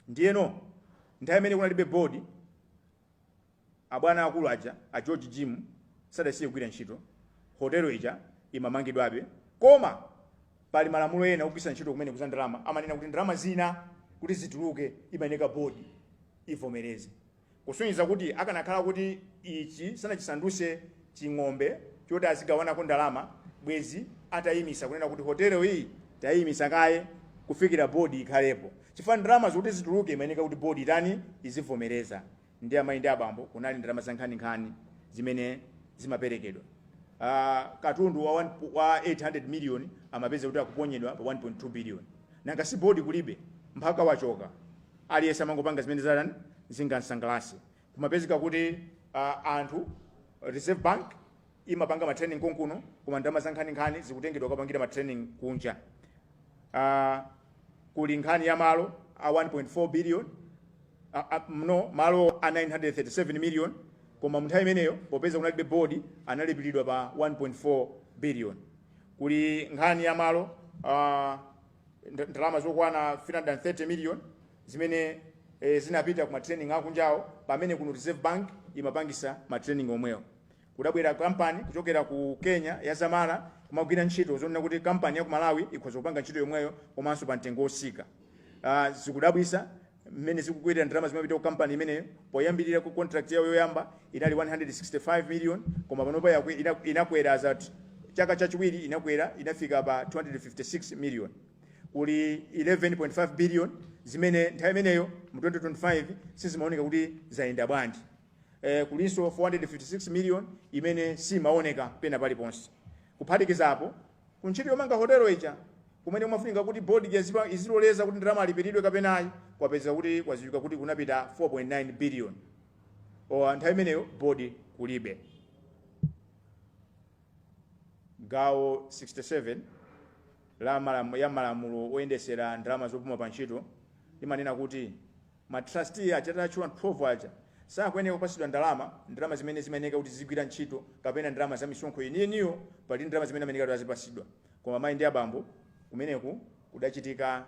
Ndiyeno nthawi imene kunalibe board, abwana akulu aja, a George Jim, sadasiye kugwira ntchito, hotelo ija imamangidwabe. Koma pali malamulo ena ogwiritsa ntchito kumene kuza ndalama, amanena kuti ndalama zina kuti zituluke imayeneka board ivomereze. Kusonyeza kuti akanakhala kuti ichi sanachisandutse ching'ombe choti azigawanako ndalama bwezi atayimitsa kunena kuti hotelo iyi tayiyimitsa kaye kufikira board ikhalepo chifukwa ndalama zokuti zituluke imayeneka kuti board itani izivomereza ndi amayi ndi abambo kunali ndalama zankhaninkhani zimene zimaperekedwa uh, katundu wa, one, wa 800 million amapeza kuti akuponyedwa pa 1.2 billion nanga si board kulibe mphaka wachoka Aliyense amangopanga zimene zatan zingamsangalatse. Kumapezeka kuti uh, anthu Reserve Bank imapanga ma training konkuno, koma ndalama za nkhani nkhani zikutengedwa kukapangira ma training kunja. Uh, kuli nkhani ya malo a 1.4 billion a, a, no malo a 937 million koma munthawi imeneyo popeza kunalibe board analipiridwa pa 1.4 billion kuli nkhani ya malo uh, nd- ndalama zokwana 330 million zimene eh, zinapita ku matraining akunjawo pamene kuno reserve bank imapangisa matraining omwewo kudabwera kampani kuchokera ku kenya ya zamara kumagwira ntchito zonena kuti kampani ya ku malawi ikhoza kupanga ntchito yomweyo komanso pa mtengo wosika uh, zikudabwisa mmene zikukwerera ndalama zimapita ku kampani imeneyo poyambirira ku contract yawo yoyamba inali 165 million koma panopa yakwe- ina- inakwera as at chaka chachiwiri inakwera inafika pa 256 million kuli 11.5 billion zimene nthawi imeneyo mu 2025 sizimaoneka kuti zayenda bwanji eh, kulinso 456 million imene simaoneka pena paliponse kuphatikizapo Ku ntchito yomanga hotelo ija, kumene kumafunika kuti board ija iziloleza kuti ndalama alipiridwe kapena ayi, kwapezeka kuti kwadziwika kuti kunapita 4.9 billion. Pa nthawi imeneyo board kulibe. Gawo 67 ya malamulo oyendesera ndalama zopuma pa ntchito limanena kuti, Ma trustee aja tatchula 12 aja sakuyenera kupatsidwa ndalama, ndalama zimene zimayeneka kuti zizigwira ntchito kapena ndalama za misonkho yeniyeniyo, pali ndalama zimene amayeneka kuti azipatsidwa. Koma amai ndi abambo kumeneku kudachitika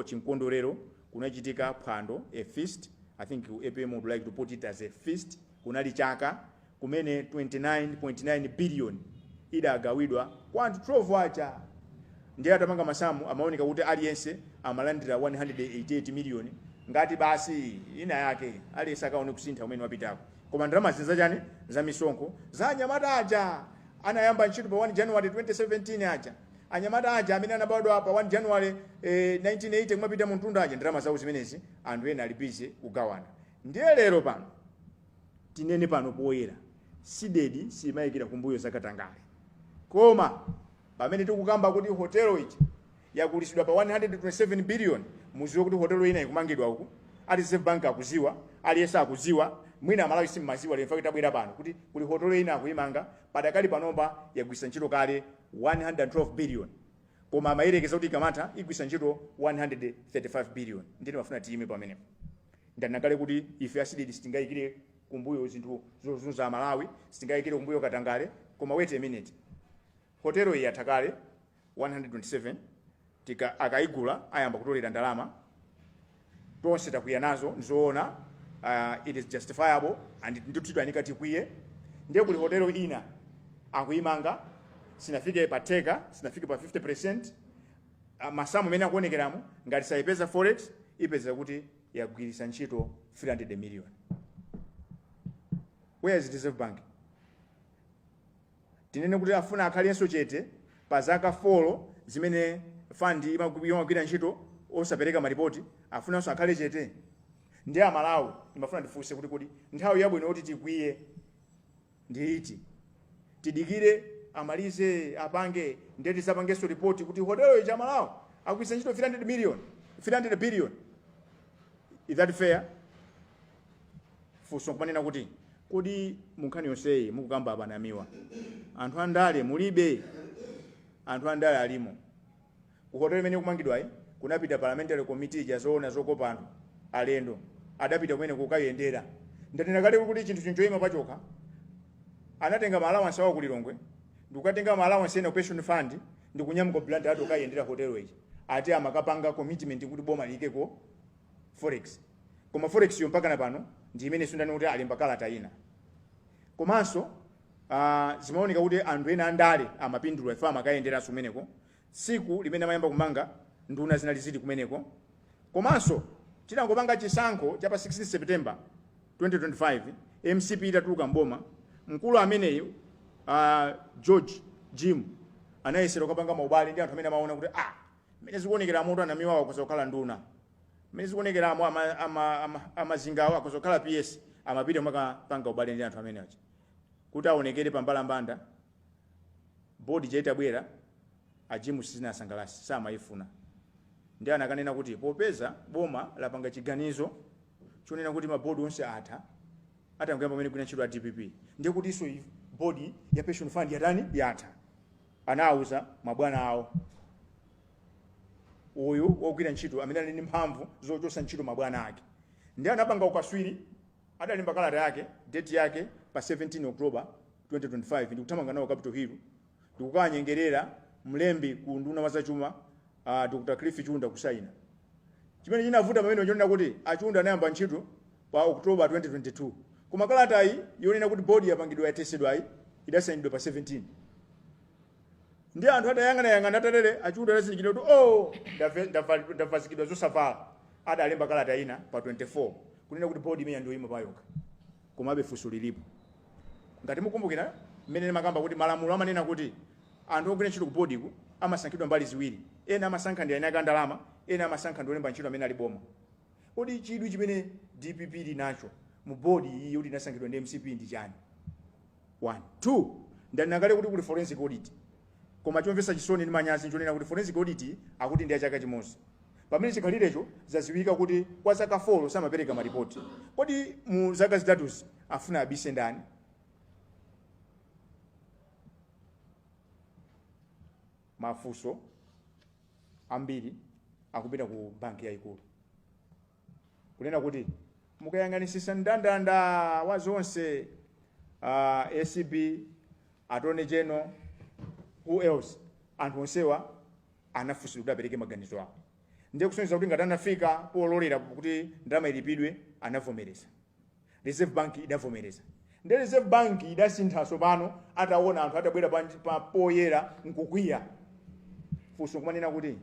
chimkondwerero kunachitika phwando, a feast, I think APM would like to put it as a feast, kunali chaka. kumene 29.9 biliyoni idagawidwa kwa anthu 12 aja ndiye atamanga masamu amaoneka kuti aliyense amalandira 188 miliyoni ngati basi ina yake aliyense akaone kusintha kumene wapitako koma ndalama zachani za misonkho za anyamata aja anayamba ntchito pa 1 january 2017 aja anyamata aja amene anabadwa pa 1 january eh, 1980 kumapita mmtunda aja ndalama zawo zimenezi anthu ena ali bize kugawana ndiye lero pano tinene pano poyera Cdedi siyiyikira kumbuyo za katangale koma pamene tikukamba kuti hotel ija yagulisidwa pa 127 billion muziwe kuti hotel ina ikumangidwa uku a reserve bank akuziwa aliyese akuziwa mwina amalawi simmaziwa lero ndachita kubwera pano kuti kuli hotel ina akuyimanga padakali panomba yagwisa ntchito kale 112 billion koma amayerekeza kuti ikamatha igwisa ntchito 135 billion ndiye ndimafuna tiyime pamenepo Ndanena kale kuti ife a Cdedi sitingaikire kumbuyo zinthu zozunza Amalawi, sitingaikire kumbuyo katangale, koma wait a minute, hotelo iyi yatha kale 127 akaigula ayamba kutolera ndalama, tonse takwiya nazo, nzoona uh, it is justifiable and ndithu tayenera tikwiye, ndiye kuli hotelo ina akuimanga sinafike pa theka, sinafike pa 50%, masamu mmene akuonekeramu ngati sayipeza forex ipezeka kuti yagwiritsa ntchito 300 million where is reserve bank tinene kuti afuna akhalenso chete pa zaka folo zimene fund imagu- imagwira ntchito osapereka maripoti afunanso akhale chete ndiye amalawi ndimafuna ndifunse kuti kodi nthawi yabwino yoti tikwiye ndi iti tidikire amalize apange ndiye tizapangenso ripoti kuti hotelo ija amalawi yagwiritsa ntchito 300 million 300 billion is that fair funso nkumanena kuti kodi munkhani yonseyi mukukamba abanamiwa anthu andale mulibe anthu andale alimo Ku hotel imene ikumangidwayi kunapita parliamentary committee ija yoona zokopa anthu, alendo, adapita kumeneko kukayendera. Ndanena kale kuti chinthuchi nchoima pachokha. Anatenga ma allowance awo ku Lilongwe ndikukatenga ma allowance ena ku pension fund ndikunyamuka ku Blantyre ati kukayendera hotel ija. Ati amakapanga commitment kuti boma liikeko forex. Koma forex yo mpakana pano ndi imenenso ndanena kuti alemba kalata ina. Komanso ah zimaoneka kuti anthu ena andale amapindula chifukwa amakayenderanso kumeneko tsiku limene amayamba kumanga nduna zinali zili kumeneko komanso itangopanga chisankho cha pa 16 September 2025 mcp itatuluka m'boma mkulu ameneyu a George Jim anayesera kukapanga maubale ndi anthu amene amaona kuti ah mmene zikuonekera muno a Mwanamvekha akhoza kukhala nduna mmene zikuonekeramo ama- ama- ama- amazingawo akhoza kukhala ps amapita nkukapanga ubale ndi anthu amene aja kuti aonekere pa mbalambanda Board ija itabwera a Jim sizinawasangalatse samayifuna ndiye anakanena kuti popeza boma lapanga chiganizo chonena kuti ma board onse atha atangoyamba kumene kugwira ntchito a dpp ndiye kutinso board ya pension fund yatani yatha anawuza mabwana awo uyu wogwira ntchito amene ali ndi mphamvu zochotsa ntchito mabwana ake ndiye anapanga ukaswiri Adalemba kalata yake date yake pa 17 October 2025 ndikuthamanga nawo capital hill ndikukawanyengerera mlembi ku unduna wa zachuma a Dr Cliff Chunda kusaina. Chimene chinavuta pamenepo chonena kuti a Chunda anayamba ntchito pa October 22 koma kalatayi yonena kuti board yapangidwa yathetsedwayi idasainidwa pa 17 ndiye anthu atayang'anayang'ana atalere a Chunda adazindikira kuti oh ndave- ndava- ndavekedwa zosavala adalemba kalata ina pa 24 kunena kuti board imeneyi ndiyoima payokha. Komabe funso lilipo. Ngati mukukumbukira mmene ndimakamba kuti malamulo amanena kuti anthu ogwira ntchito ku boardiku amasankhidwa mbali ziwiri, ena amasankha ndi eni ake a ndalama, ena amasankha ndi olemba ntchito amene ali boma. Kodi chidwi chimene dpp ili nacho mu board iyi yoti inasankhidwa ndi mcp ndi chani? 1. 2, Ndanena kale kuti kuli forensic audit. Koma chomvetsa chisoni ndi manyazi nchonena kuti forensic audit akuti ndi ya chaka chimodzi. Pamene chikhalirecho zadziwika kuti kwa zaka folo samapereka ma report. Kodi mu zaka zitatuzi afuna abise ndani? Mafunso ambiri akupita ku banki yaikulu. kunena kuti mukayang'anitsitsa mndandanda wa zonse uh, acb attorney general who else anthu onsewa anafunsidwa kuti apereke maganizo awo ndiye kusonyeza kuti ngati anafika pololera kuti ndalama ilipidwe anavomereza Reserve Bank idavomereza nde Reserve Bank idasinthaso pano atawona anthu atabwera pa, pa poyera nkukwiya funso kumanena kuti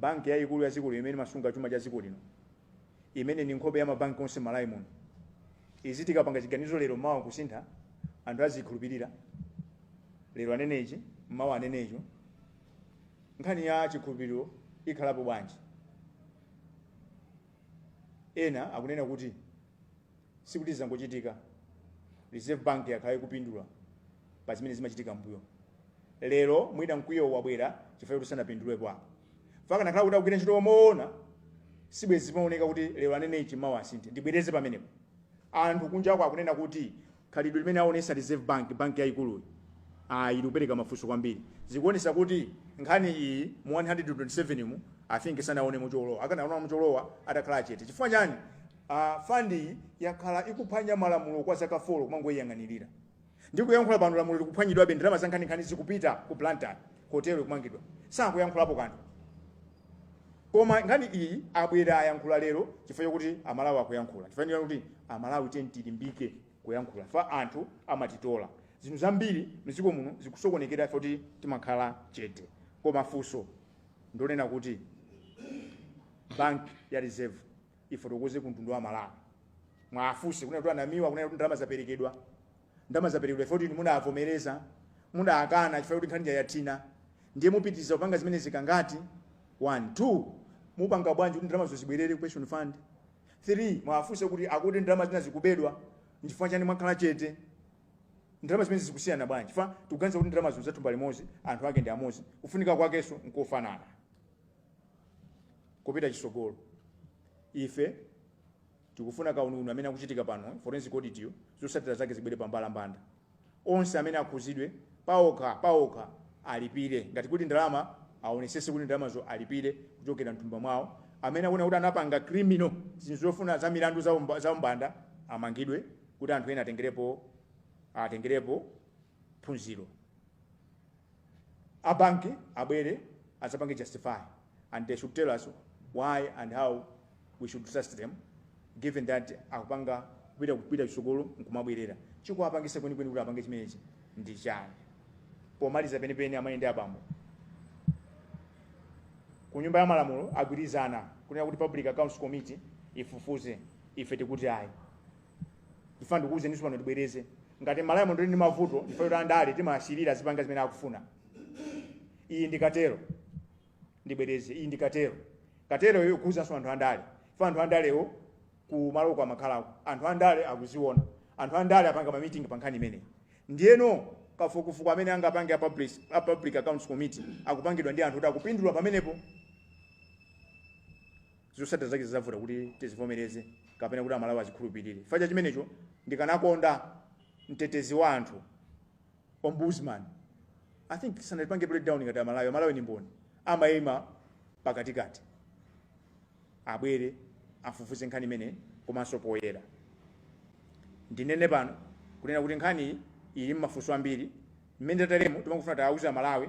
banki yayikulu ya dziko lino imene imasunga chuma cha dziko lino imene ni nkhope ya mabanki onse m'Malawi muno iziti ikapanga chiganizo lero mawa kusintha anthu azikhulupirira lero anene ichi mawa anene icho nkhani ya chikhulupiriro ikhalapo bwanji Ena akunena kuti sikuti zangochitika, Reserve Bank yakhala ikupindula pa zimene zimachitika mmbuyomu. Lero mwina mkwiyowu wabwera chifukwa choti sanapindulepo apa. Akanakhala kuti akugwira ntchito moona sibwenzi zimaoneka kuti lero anene ichi mawa asinthe. Ndibwereze pamenepo. Anthu kunjaku akunena kuti Khalidwe limene awonesa Reserve Bank, banki yayikuluyi, likupereka mafunso kwambiri. Zikuonesa kuti nkhani iyi mu 127 mu, I think sanawonemo cholowa. Akanaonamo cholowa atakhala chete. Chifukwa chani? A fund iyi yakhala ikuphwanya malamulo kwa zaka folo kumangoyiyang'anilira. Ndikuyankhula pano lamulo likuphwanyidwabe, ndalama zankhaninkhani zikupita ku Blantyre, hotel ikumangidwa. Sakuyankhulapo kanthu. Koma nkhani iyi abwera ayankhula lero chifukwa chokuti amalawi akuyankhula chifukwa choti amalawi tiyeni tilimbike kuyankhula chifukwa anthu amatitola zinthu zambiri mdziko muno zikusokonekera chifukwa kuti timakhala chete koma funso ndonena kuti bank ya reserve ifotokoze ku mtundu wa malawi muwafunse kunena kuti anamanidwa kunena kuti ndalama zaperekedwa Ndalama zaperekedwa chifukwa choti inu mudavomereza, mudakana chifukwa choti nkhani ija yathina. Ndiye mupitiriza kupanga zimenezi kangati? 1 2. Mupanga bwanji kuti ndalamazo zibwerere ku pension fund? 3 muwafunse kuti akuti ndalama zina zikubedwa, nchifukwa chiyani mwakhala chete? Ndalama zimenezi zikusiyana bwanji? Chifukwa tikuganiza kuti ndalamazo nzathumba limodzi, anthu ake ndi amodzi, kufunika kwakenso nkofanana kopita chitsogolo. Ife. Tikufuna kauniuni amene akuchitika pano, forensic audit yo, zotsatira zake zibwere pambalambanda. Onse amene akhuzidwe paokha paokha alipire. Ngati kuti ndalama aonesese kuti ndalamazo alipire kuchokera mthumba mwao. Amene akuoneka kuti anapanga criminal zinthu zofuna za milandu za umbanda amangidwe kuti anthu ena atengerepo phunziro. A bank abwere adzapange justify. and they should tell us why and how we should trust them given that akupanga kupita kupita chitsogolo nkumabwerera chikuwapangisa kwenikweni kuti apange chimenechi ndi chani pomaliza penipeni amayi ndi abambo ku nyumba ya malamulo agwirizana kunena kuti public accounts committee ifufuze ife tikuti ayi fa ndikuwuzeninso pano tibwereze ngati Malawi muno tili ndi mavuto ife kuti andale timawasiyira azipanga zimene akufuna iyi ndi katelo ndibwereze iyi ndi katelo kateloyo ikukhudzanso anthu andale fa anthu andalewo ku maloko amakhalako anthu andale akuziona anthu andale apanga mamiting pa nkhani imeneyi ndiyeno kafukufuku amene angapange a public, a public accounts committee akupangidwa ndi anthu oti akupindula pamenepo zosatira zake zizavuta kuti tizivomereze kapena kuti amalawi azikhulupirire fa cha chimenecho ndikanakonda mtetezi wa anthu ombudsman i think sanatipange break down ngati amalawi amalawi ni mboni amaima pakatikati abwere afufuze nkhani imene komanso poyera ndinene pano kunena kuti nkhani ili mmafunso ambiri mmene tateremu timangofuna tiuze amalawi